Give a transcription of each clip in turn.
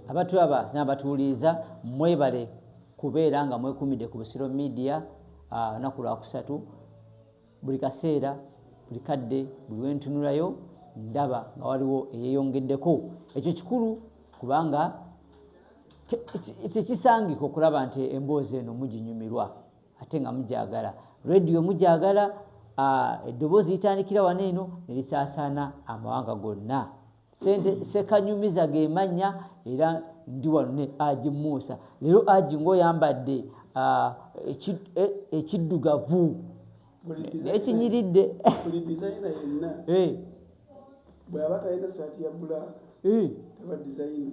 abatulaba n'abatuwuliriza mwebale kubeera nga mwekumidde ku busiro media olunaku ah, lwakusatu buli kaseera buli kadde buli wentunulayo ndaba nga waliwo eyeyongeddeko ekyo kikulu kubanga tekisangika okulaba nti emboozi eno muginyumirwa ate nga mugyagala rediyo mugyagala ah, eddoboozi litandikira wano eno nelisaasaana amawanga gonna sente sekanyumiza ge mannya era ndi wano ne aji muusa leero aji ngaoyambadde ah, e, ekiddugavu ekinyiridde eh. bwaba talina saati ya bulaaka eh. taba dizayina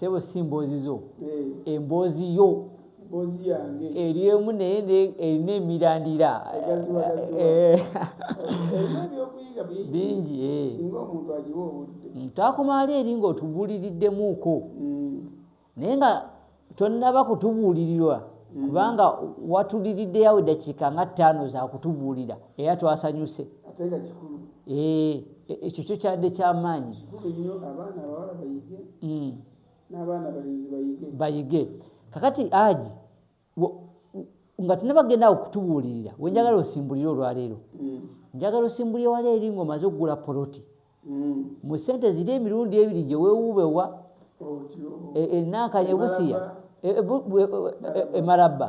Sebo si mboozi zo, eh. emboozi yo eri emu naye erina emirandira eh. bingi eh. mm, twakomaali eri ngaotubuuliriddemuuko mm. naye nga tonnaba kutubuulirirwa mm. kubanga watuliriddeyawo eddakiika nga ttaano zakutubuulira era twasanyuse Eh, e- ekyo kyo kyadde kyamaanyi kikulu nnyo abaana abawala bayige Mm. n'abaana abalenzi bayige bayige kakati aji wo- nga tunabagenda awo kutubuulirira wenjagala osimbulire olwaleero Mm, njagala osimbulire wala eri ng'omaze okugula poloti mm. mu ssente ziri emirundi ebiri gye weewuubewa otyo e- enankanya ebusiya Emalabba. e- e- bu- bu- e- e- emalabba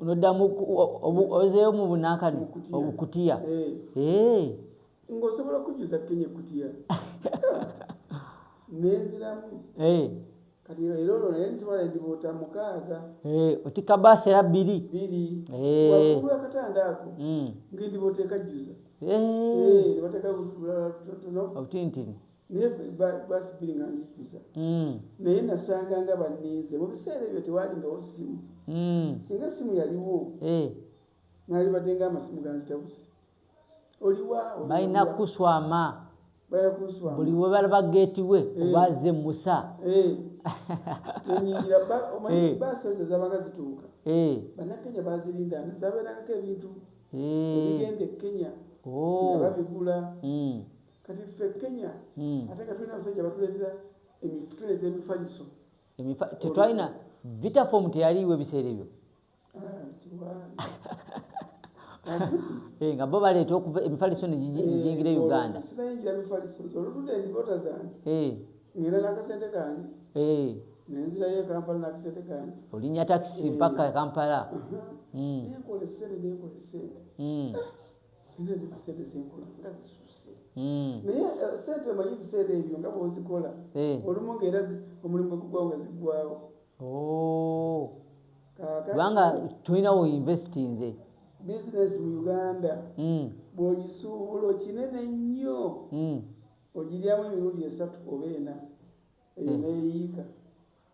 noddamu ozeeyo mu bunankani obukutiya ngaosobola okujuza kenya ekutiya nenziramu kati era olwo naye ntwala endibuuta mukaaga eh, otikka baasi era bbiri bbiri eh. wakulu akatanda ako hmm. ngaendibuuta ekajjuza eh. nebateka obutintini naye gwasibbiri nga nzijjuza hmm. naye nasanga nga banninze mu biseera ebyo tewalingawo simu hmm. singa simu yaliwo eh. nalibadde nga amasimu ganzitabusi oliwabalina kuswama buli webalaba geeti we eh. obaze musa eh. enyingira baasi ezo zabaga zituuka bannakenya bazirinda zabeerangako ebintu ebigenda e kenya oh. nga babigula hmm. kati ffe kenya hmm. ate nga tulina abasajja batuleza tuleza emifaliso tetwalina vitafom teyaliiwo ebiseera ebyo ah, eh, nga bo baleeta okuva emifaliso negyingira e uganda olinya takisi mpaka kampala Nina zino sente zenkola nga zisusse hmm. naye eh, sente omanyi ebiseera ebyo nga bwozikola eh. olumu nga era omulimu gwegugwawo nga ziggwawo oh. kubanga tulina wo investinze bizinesi mu uganda hmm. bwogisuubula okinene nnyo hmm. ogiryamu emirundi esatu oba ena eyo neyiika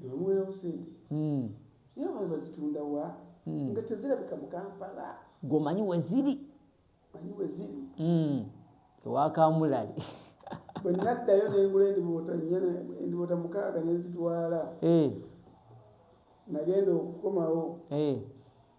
Nebamuwerawo sente naye omanyi bazitunda wa nga tezirabika mu Kampala. Gwe omanyi weziri? Manyi weziri. Ewa Kamulali. Bwe naddayo nengula endiboota nnya endiboota mukaaga nenzitwala. Nagenda okukomawo.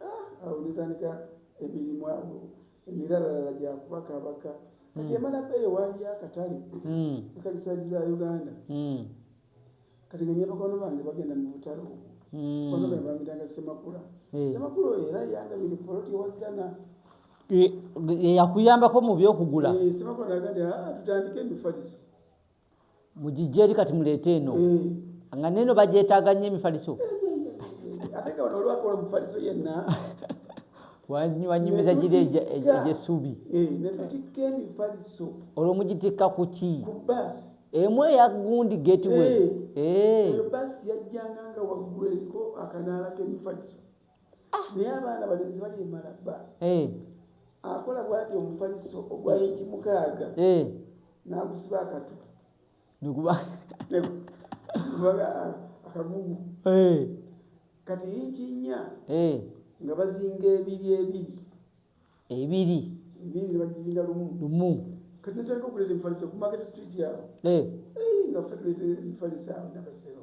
ah, awo netandika emirimu awo emiralala gyakubakabaka kati hmm. emala beeyo waaliyo akatale hmm. akalisaaji za uganda hmm. kati nga nyabakwano bange bagenda mu butalo kwano bange bamitanga semakula eh. semakula oyo era yandabire poloti wazana eh, yakuyambako mu byokugula eh, semakula agati ah, tutandike emifaliso mugijje eri kati muleete eno eh. nga neeno bagyetaaga nnyo emifaliso wanyumiza giri egyessuubi eh, olwo mugitikka ku ki emu eya gundi getiwe eh. Ah, naye abaana balenzi balimala bba eh. akola bwati omufaliso ogwa inti mukaaga eh. nagusiba akatu akagugu kati inti nya nga bazinga ebiri ebiri ebiri ebiri nebagizinga lumu lumu kati natandika okuleta emifaliso ku market street yawo nga fe tuleta emifaliso awo nabasero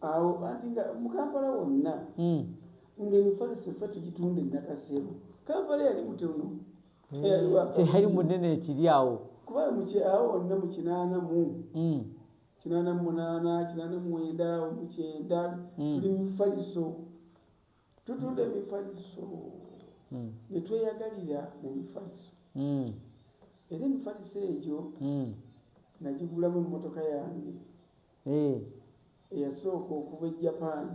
awo anti nga mukampala wonna hmm. ngaemifaliso ffe tugitunda enakasebo kampala yali mutono hmm. teyali munene ekiri awo kuba mukyawo wonna mu kinaana mu hmm. kinaana mu munaana kinaana mu mwenda omukyenda tuli mumifaliso tutunda emifaliso netweyagalira mu mifaliso era emifaliso egyo nagigulamu emmotoka yange eyasooka okuva e japan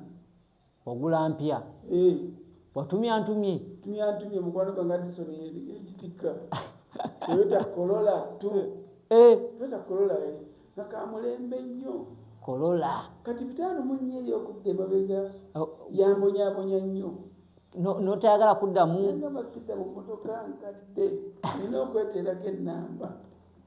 wagula mpya watumya ntumye tumya ntumye mukwano gwange adison ekitikka toyota kolola t toyota kolola nakamulembe nnyo kolola kati bitaano munnya eri okudda emabega oh. yambonyabonya nnyo notayagala kuddamu nga basidda mu motoka nkadde nina okweteerako ennamba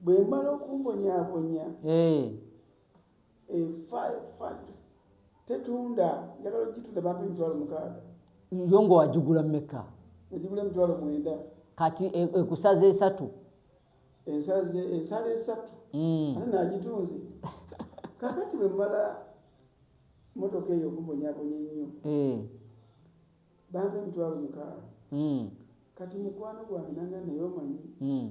bwe mmala okumbonyaabonya efad eh, tetunda njagala ogitunda bampa emitwalo mukaaga yo nga wagigula mumeka egigula emitwalo mwenda kati e, ekusaza esatu ensala esatu hmm. ate nagitunzi kakati bwe mmala motoka eyo okumbonyabonya ennyo eh. bampa emitwalo mukaaga hmm. kati mukwano gwange nanga naye omanyi hmm.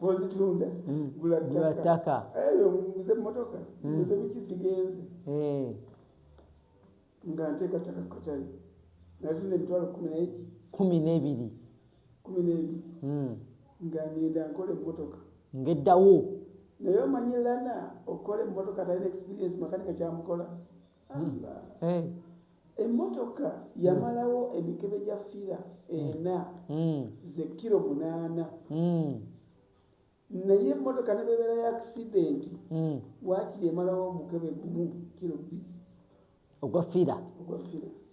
bwozitunda mm. gula ttaka eyo eh, muguze mmotoka mm. muguze biki zigenze eh. nga nteekattaka kukatale natunda emitwalo kumi negi kumi n'ebiri kumi n'ebiri mm. nga ngenda nkola emmotoka ngeddawo naye omanyi lana okukola emmotoka talina experience makanika kyamukola Eh. emmotoka yamalawo emikebe gya fira ena hmm. ze kiro munaana hmm. naye emmotoka ne bebeera ya akisidenti hmm. wakiri emalawo omukebe gumu kiro bbiri ogwa fira ogwa fira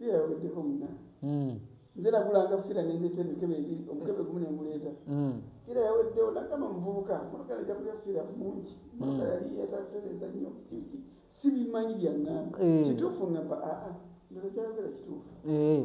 Yawedeko muna. Mm. Nze nagula nga fira nendeta emikebe ebiri omukebe gumu nenguleeta mm. fira yaweddewo nagamba muvubuka motoka naja kulya fira mungi mm. motoka yali yetatereza nnyo kiki sibimanyi byangamba eh. kituufu ngamba aa ah, ah, ndoza kyayogera kituufu eh.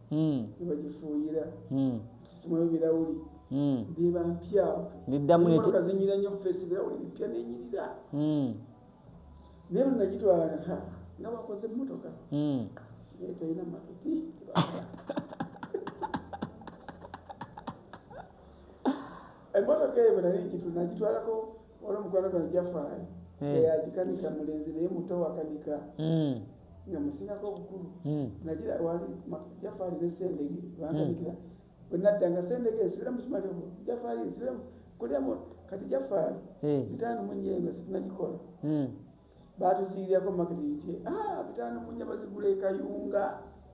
nebagifuuyira kisimwayo birawuli ndiba mpya ndiddamukazinyira nyo feesi birawuli bipya nenyirira naye lunagitwala nka nga bakoze emmotoka naye talina matuti emmotoka eyo bwe nali ngitu nagitwalako olwomukwano gwange jafaayo eyagikanika mulenzi naye muto wakanika nga musingako obukulu hmm. nagira wali jafaali ne sendege bandabikira hmm. bwe nadda nga sendege nsibira musumali ogwo jafaali nsibira kulyamu kati jafaali hmm. bitaano mu nnya eno sinagikola baatuziirirako makiti nti ah, bitaano mu nnya bazigula ekayunga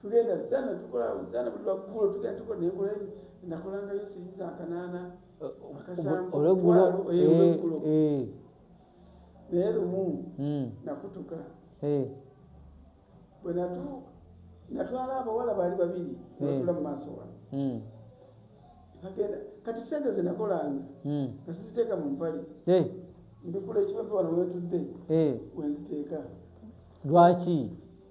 tugenda zana tukola zana buli lwaggulo tugenda tukola nenkola nakolangayo siyinza akanaana akasambuolweggulo eh, eh, eh. naye lumu hmm. nakutuka bwe natwala abawala baali babiri natula mu maaso wano hmm. agenda kati sente zenakolanga hmm. nga siziteeka mu mpale mbikula ekibape wano wetudde wenziteeka lwaki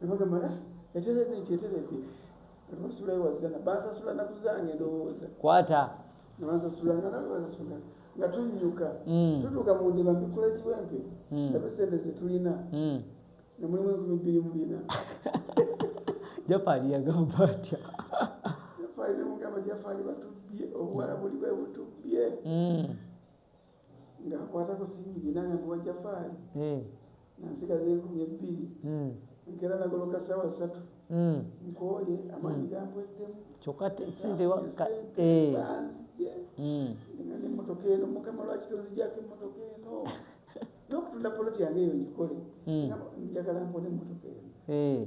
nebagamba ah, eteredde nti eteredde basulayo wazana bansasula naku zange ndowooza kwata nebansasula nga nawe basasula nga tunyuka mm. tutuuka mu ndiba mbikula kiwempe mm. nabe sente zetulina mm. nemulimu enkumi bbiri mu bina jafaali yagamba atya jafaali nemugamba jafaali batubbye obuwala buli bwe butubbye ng'akwata ku singigi nange nkuwa jafaali eh. nansigaza enkumi ebbiri hmm. nkera nagoloka saawa satu hmm. nkooye amaanyi hmm. gampweddemu kyokka sente eh. nga nemotoka eno mukama lwaki tonzijako emotoka eno n'okutunda poloti yange eyo ngikole njagala mpone emotoka eno eh.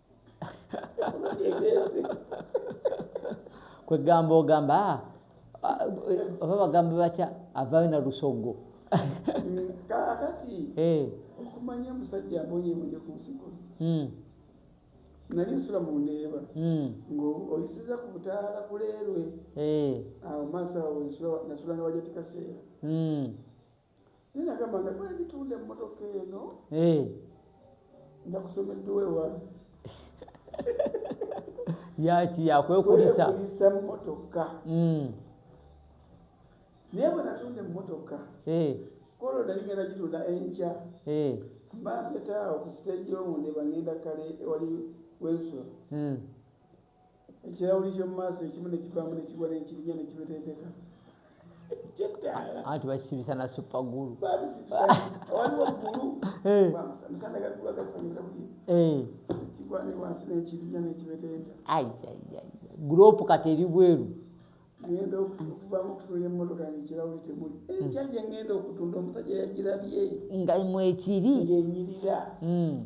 kwegamba ogamba ah, ah, oba bagambe batya avayo na lusogo kakati eh. okumanya omusajja abonyebonye ku nsiko hmm. nali nsula mu ndeeba hmm. ngaoyisiza ku butaala kuleerwe eh. awo maaso awo nasulanga wajatikaseera hmm. Naye nagamba nga bwenditunda emmotoka eno eh. nja kusoma edduwa ewa yaki yakwekulisa mmotoka hmm. naye bwe natunda emmotoka eh. kolo nali ngenda gitunda enkya eh. mbampetaawo ku siteegi yowunde bangenda kale ewali wensula hmm. ekirawuli kyomu maaso ekimu nekivaamu nekigwa nenkirinya nekibetenteka anti bakisibisa na supagulu gulopu kati eri bweru ngenda okuvamu okutunda emotoka yange kirawuli temuli hmm. ekya gye ngenda okutunda omusajja yagirabye nga mwekiri ngenyirira hmm.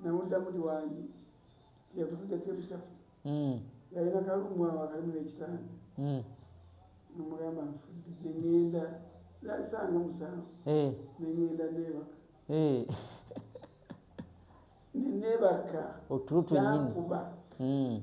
namuddamu ti wangi tiyagutudde kebisatu hmm. yalina kalumu awo akalimu nekitanda hmm. nomugamba nfudde nengenda yalisanga musanvu eh. nengenda nebaka eh. nenebaka otulo twenyini hmm.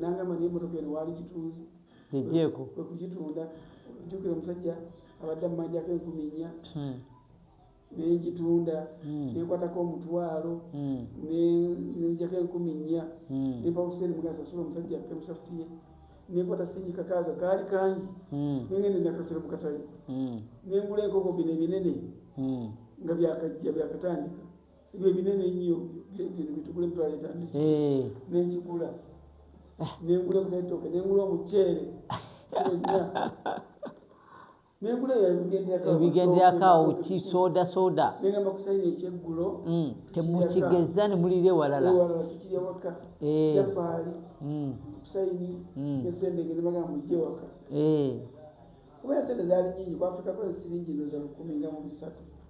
nangamba naye emotoka eno waali gitunzi yejjeeko kwekugitunda jukira omusajja abadde amumanjako enkumi nnya hmm. nengitunda hmm. nenkwatako omutwalo hmm. nenjako enkumi nnya nempa buseeni mugasasula omusajja emusafutiye nekwata singi kakaaga kaali kangi nengende nakasira mukatale nengula enkoko bino ebinene nga byakajja byakatandika ebyo binene nnyo bitugula ebbala litandiki eh. nenkigula ah. nengula ebutaitoke nengula omuceere ebigenderakawo ki soda soda mm, temukigeza ne mulira ewalala kuba esente zali nyingi kwafrika koze siringi ndoza lukumi nga mu bisatu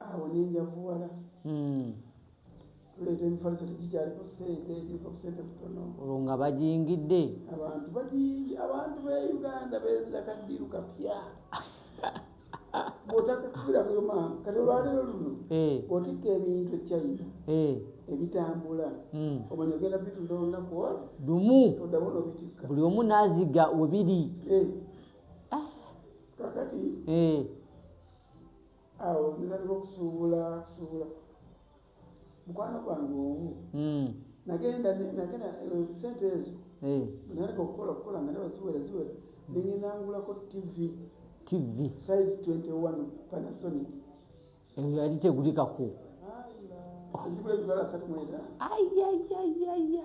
awo nenjavuwala hmm. tuleeta emifaliso tegikyaliko sente giriko busente butono olwo nga bajingidde abantu bajiingi abantu be uganda bezira kaddiru kapya bwotakakubira kuyo maama kati olwaleero luno eh. otikka ebintu echina eh. ebitambula hmm. omanya ogenda bitunda olunaku lumu odamu nobitikka buli omu naziga webiri eh. ah. kakati awo natandika okusuubula kusuubula mukwano gwange omu hmm. nagenda nagenda eh, sente ezo eh. natandika okukola okukola nga naba ziwera ziwera nengenda ngulako tv tv size 21 panasonic eyo eh, yali tegulikaku ayayayaya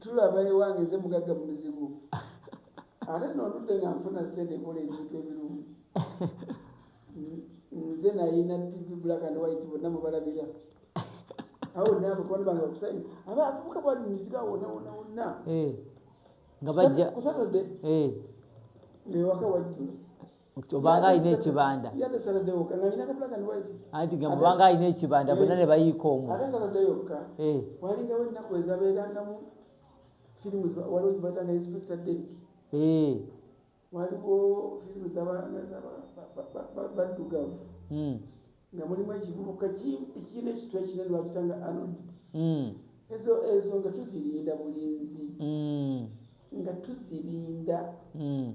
tulaba ewange nze mugagga mu mizigo ate noludde nga nfuna sente ekola ebintu ebirungi nze nayina tv black and white bonna mubalabira awo nabakwano bange bakusayi aba avubuka bwali mumizigo awona wona wonna eh, nga bajja kusatode eh. newaka wajjula obanga alina ekibanda anti nga mubanga alina ekibanda bonna ne bayiika omu waliwo firimu zabaddugavu nga mulimu ekivubuka kirina ekitwa ekine lwakita nga anod hmm. ezo ezo nga tuzirinda bulinzi hmm. nga tuzirinda hmm.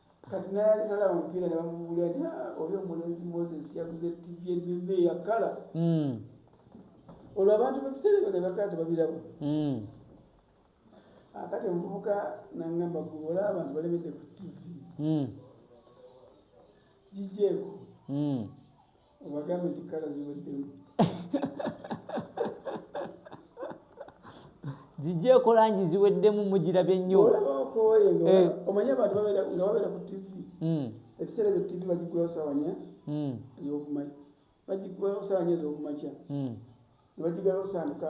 Kati nayali talaba mupiira ne bamubulira nti ah, oli omulenzi Moses yaguze ttivi ennene eyakala hmm. olwo abantu mu biseera ebyo ne bakala tebabiraba hmm. ah, kati omuvubuka nangamba gwe olaba abantu balemedde ku ttivi hmm. gijeeko obagambe nti kala ziweddemu zijja ekola ngi ziweddemu mugirabye nnyo eh. omanyi abantu nga babeera ku tv hmm. ebiseera ebyo tv bagigulawo sawanya hmm. ezokumakya bagigulawo sawanya ezokumakya hmm. nebagigalawo saamuka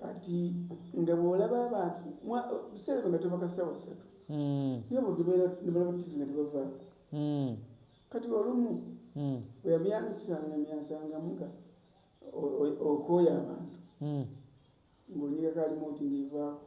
kati nga bwolaba abantu biseera byo nga tebaka ssawa ssatu hmm. naye budibeera nebalaba tivi nga tebavaako hmm. kati olumu hmm. bweyamyangisanga myansangamuga okooya abantu ng'onyigako alimu oti ngivaako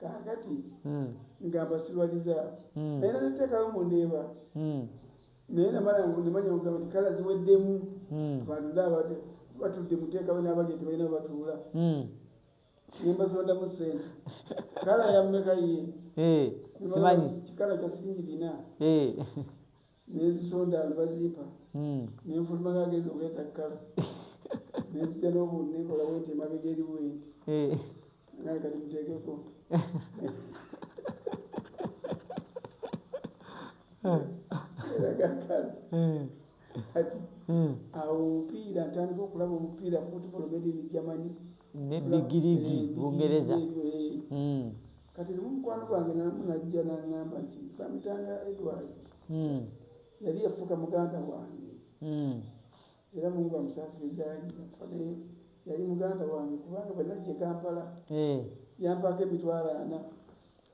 kakati hmm. nga basibaliza hmm. naye nateekayo mu ndeeba hmm. naye namala nemanya kugamba nti kala ziweddemu abantu naabade batudde muteekawo n'abali nti balina batuula nembazondamu sente kala yammeka ye eh, simanyi kikala kyasingi bina eh. nenzisonda nbazimpa hmm. nenfuluma nga agezi okuleeta kkala nenzija nobu nekola wenti emabega eri wenti eh. naye kati muteekeko eh. eragakala eh. kati hmm. awo omupiira ntandika okulaba omupiira football made in germany ne bigirigi bungereza hmm. Kati lumu mukwano gwange namu najja nangamba nti bamitanga Edward hmm. yali yafuuka muganda wange hmm. era mungu amusaasire gyali nafa naye yali muganda wange kubanga bwe najja e kampala eh. yampaako emitwalo ana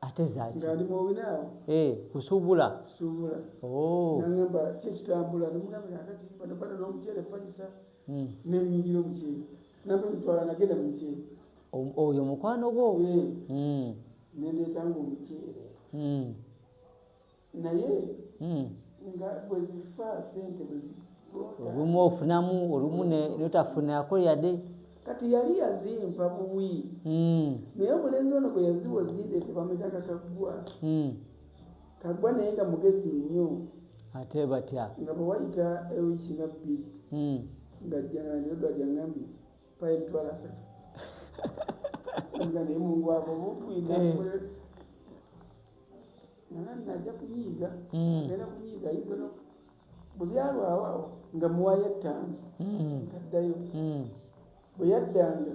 ate zaki nga ndi muwina awo eh, kusuubula kusuubula oh. nangamba kyekitambula nomugamba kakati bano bana n'omuceere palisa hmm. nenyingira omuceere nabwe mutwala nagenda mukyee oyo mukwano gwo hmm. nendeetanga omuceere hmm. naye hmm. nga bwezifa sente olumu ofunamu olumu notafunako yade kati yali yazimpa buwi naye omulenzi ono gwe yaziwa ozideete bametaka kaggwa Kaggwa naye nga mugezi nnyo. Ate batya. Nga bwe wayita ewiiki nga bbiri. Hmm. Nga jjanange Edward yangambye mpayo emitwalo asatu. Nga naye mungu abo bufuyina. Eh. Nana najja kunyiiga. Hmm. Nena kunyiiga ayinza no bwe byalwawo awo nga muwayo ettaano. Kaddayo. Hmm. Bwe yaddanga.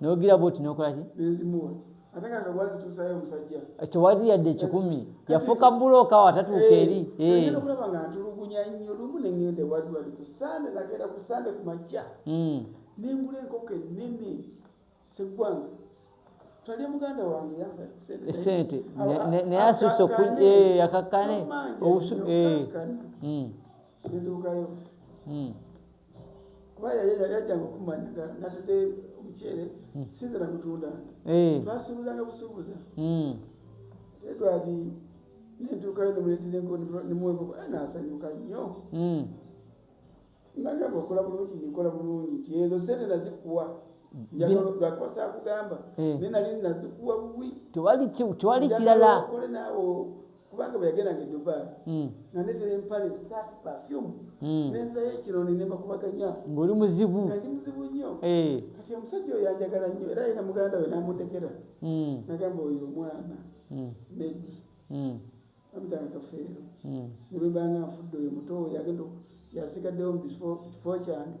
nogira bwoti nokola ki tewali yadde ekikumi yafuuka bulooka awo atatuuka eh, eri eh. hmm. nengula enkoko enene segwanga esente eh, naye asusa yakakane nduukayo hmm. kuba yajjanga okumanya nga natadde omuceere hmm. sinzira kutunda eh. twasuubuzanga busuubuza hmm. edwadi nentuukayo nemuletenemuwekoko eh, nasanyuka nnyo nagamba okola bulungi nikola bulungi nti ezo sente nazikuwa lwakubasaakugamba eh. naye nali nazikuwa buwi tewali kirala kubanga bwe yagendanga e dubai hmm. nanetera empale saati perfume hmm. nenzayo ekironi ne bakubaganya ng'oli muzibu nali muzibu nnyo eh. kati omusajja oyo yanjagala nnyo era yina muganda we namutekera hmm. nagamba oyo omwana medi amutanga kafeero nebwebanga nfudde oyo muto oyo agenda yasigaddewo mu kifo kyange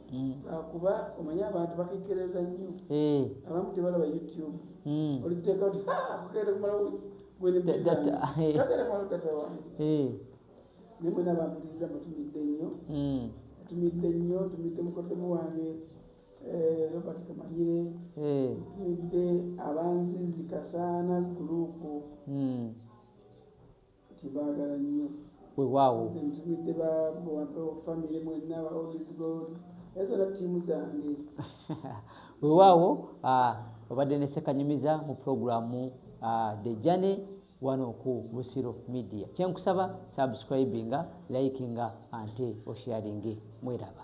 Mm. Ah, kuba omanyi abantu bakekkereza nnyo eh. abamu tebalaba youtube mm. oliteeka oti kugenda kumala gwenbagenda kumala data wange eh. naye mwena bampuliriza mutumidde nnyo mm. tumidde nnyo tumidde mukoddomu wange eh, robert kamanyire tumidde abanzizi kasaana gulupu Tubaagala nnyo. Wewaawo. Nze ntumidde ba Buwampewo family mwenna ba All is God. Era zonna ttiimu zange. Wewaawo ah, obadde ne Ssekanyumiza mu pulogulaamu ah, The Journey wano ku Busiro Media. Kye nkusaba subscribinga, likinga ante osharinge. Mweraba.